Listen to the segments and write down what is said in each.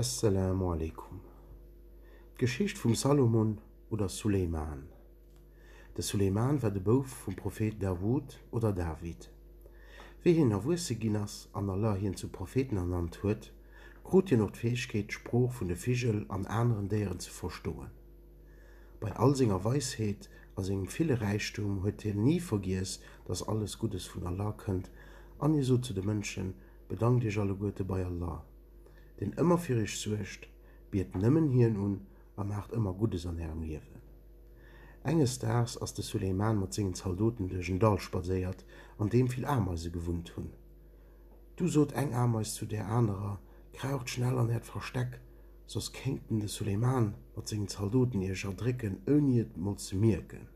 Esselamu aleykum. D'Geschicht vum Salomon oder Suleyman. De Suleyman war de Bouf vum Prophet Dawud oder David. Wéi hien erwuesse ginn ass an Allah hien zum Propheten ernannt huet, krut hien och d'Fäegkeet d'Sprooch vun de Vigel an aneren Déieren ze verstoen. Bei all senger Weisheet a sengem ville Räichtum huet hien ni vergiess, dass alles Guddes vun Allah kënnt an hie sot zu de Mënschen, Bedankt iech alleguerte bei Allah, deen ëmmer fir iech suergt, biet nëmmen hien un a maacht ëmmer Guddes an ärem Liewen. Enges Daags ass de Suleyman mat sengen Zaldoten duerch en Dall spadséiert, an deem vill Ameise gewunnt hunn. Du sot eng Ameis zu där anerer, Kraucht schnell an äert Versteck, soss kéinten de Suleyman mat sengen Zaldoten iech erdrécken, ouni et mol ze mierken.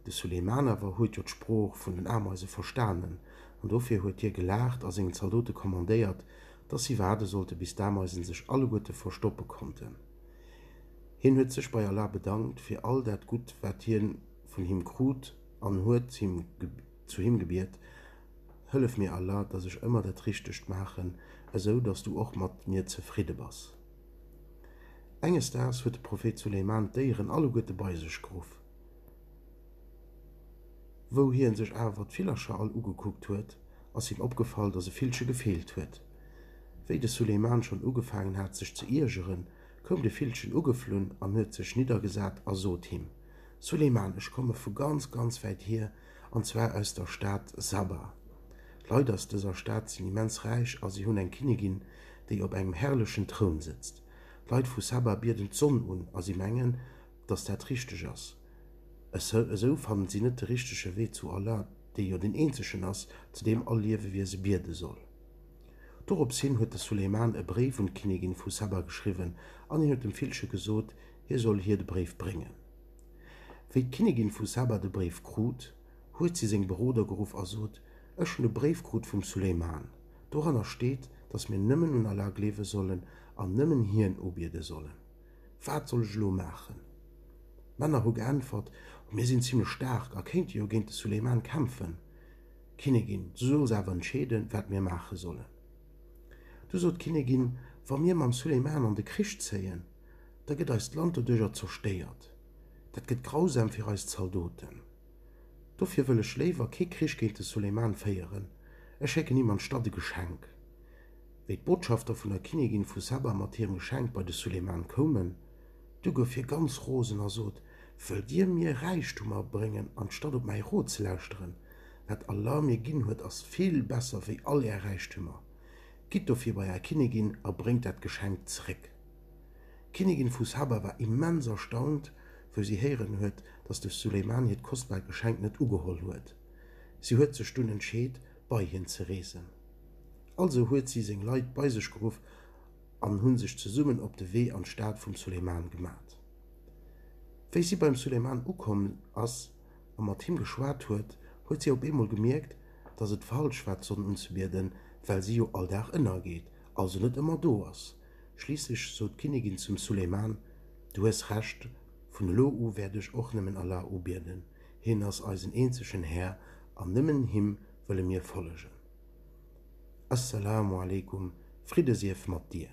De Suleiman awer huet jo d'Sprooch vun den Ameise verstanen, an dofir huet hie gelaacht a sengen Zaldote kommandéiert, dass si waarde sollte bis d'Ameisen sech alleguerte verstoppe konnten. Hien huet sech bei Allah bedankt fir all dat Gutt, wat hie vun him krut, an huet zu him gebiet, Hëllef mir, Allah, dass ech ëmmer dat Richtegt maachen, esou dass du och mat mir zefridde bass. Enges Daags huet de Prophet Suleiman d'Déieren alleguerte bei sech geruff. Wou hien sech awer d'Villercher all ugekuckt huet, ass him opgefall, dass e Villche gefeelt huet. Wéi de Suleiman schonn ugefaangen hat sech ze iergeren, koum de Villchen ugeflunn an huet sech niddergesat a sot him, Suleiman, ech komme vu ganz, ganz wäit hier, an zwar aus der Stad Saba. D'Leit aus dëser Stad sinn immens räich a si hunn eng Kinnigin, déi op engem herrlechen Troun sëtzt. D'Leit vu Saba bieden d'Sonn un a si mengen, dass dat richteg ass. Esou fannen si net de richtege Wee zu Allah, dee jo deen eenzegen ass, zu deem all Liewewiese biede soll. Dorops hin huet de Suleiman e Bréif un d'Kinnigin vu Saba geschriwwen an hien huet dem Villche gesot, hie soll hir de Bréif bréngen. Wéi d'Kinnigin vu Saba de Bréif krut, huet si seng Beroder geruff a sot, Ech hunn e Bréif krut vum Suleiman. Doranner steet, datt mir nëmmen un Allah gleewe sollen an nëmmen Hien ubiede sollen. Wat soll ech elo maachen? D'Männer hu geäntwert, O mir sinn zimmlech staark a kéinte jo géint de Suleiman kämpfen. Kinnigin, Du solls awer entscheeden, wat mir maache sollen. Du sot d'Kinnigin, Wa mir mam Suleiman an de Krich zéien, da gëtt eist Land doduerjer zerstéiert. Dat gëtt grausam fir eis Zaldoten. Dofir wëll ech léiwer kee Krich géint de Suleyman féieren, ech schécken him anstatt e Geschenk. Wéi d'Botschafter vun der Kinnigin vu Saba mat hirem Geschenk bei de Suleyman koumen, du gouf hie ganz rosen a sot, Wëllt dir mir Räichtum abréngen, anstatt op mäi Rot ze lauschteren? Wat Allah mir ginn huet, ass vill besser wéi all är Räichtümer. Gitt dofir bei är Kinnigin a bréngt dat Geschenk zeréck. D'Kinnigin vu Saba war immens erstaunt, wou si héieren huet, datt de Suleiman hiert kostbar Geschenk net ugeholl huet. Si huet sech dunn entscheet, bei hien ze reesen. Also huet si seng Leit bei sech geruff an hu sech zesummen op de Wee an d'Stad vum Suleiman gemat. Wéi si beim Suleiman ukomm ass a mat him geschwat huet, huet si op eemol gemierkt, datt et falsch war, d'Sonn unzebieden, well si jo all Dag ënnergeet also net ëmmer do ass, schliisslech sot d'Kinnigin zum Suleyman, Du hues Recht, vun elo u wäert ech och nëmmen Allah ubieden, hien ass eisen eenzegen Här an nëmmen him wëlle mir follegen. As-Salaamu aleykum, Fridde sief mat dir!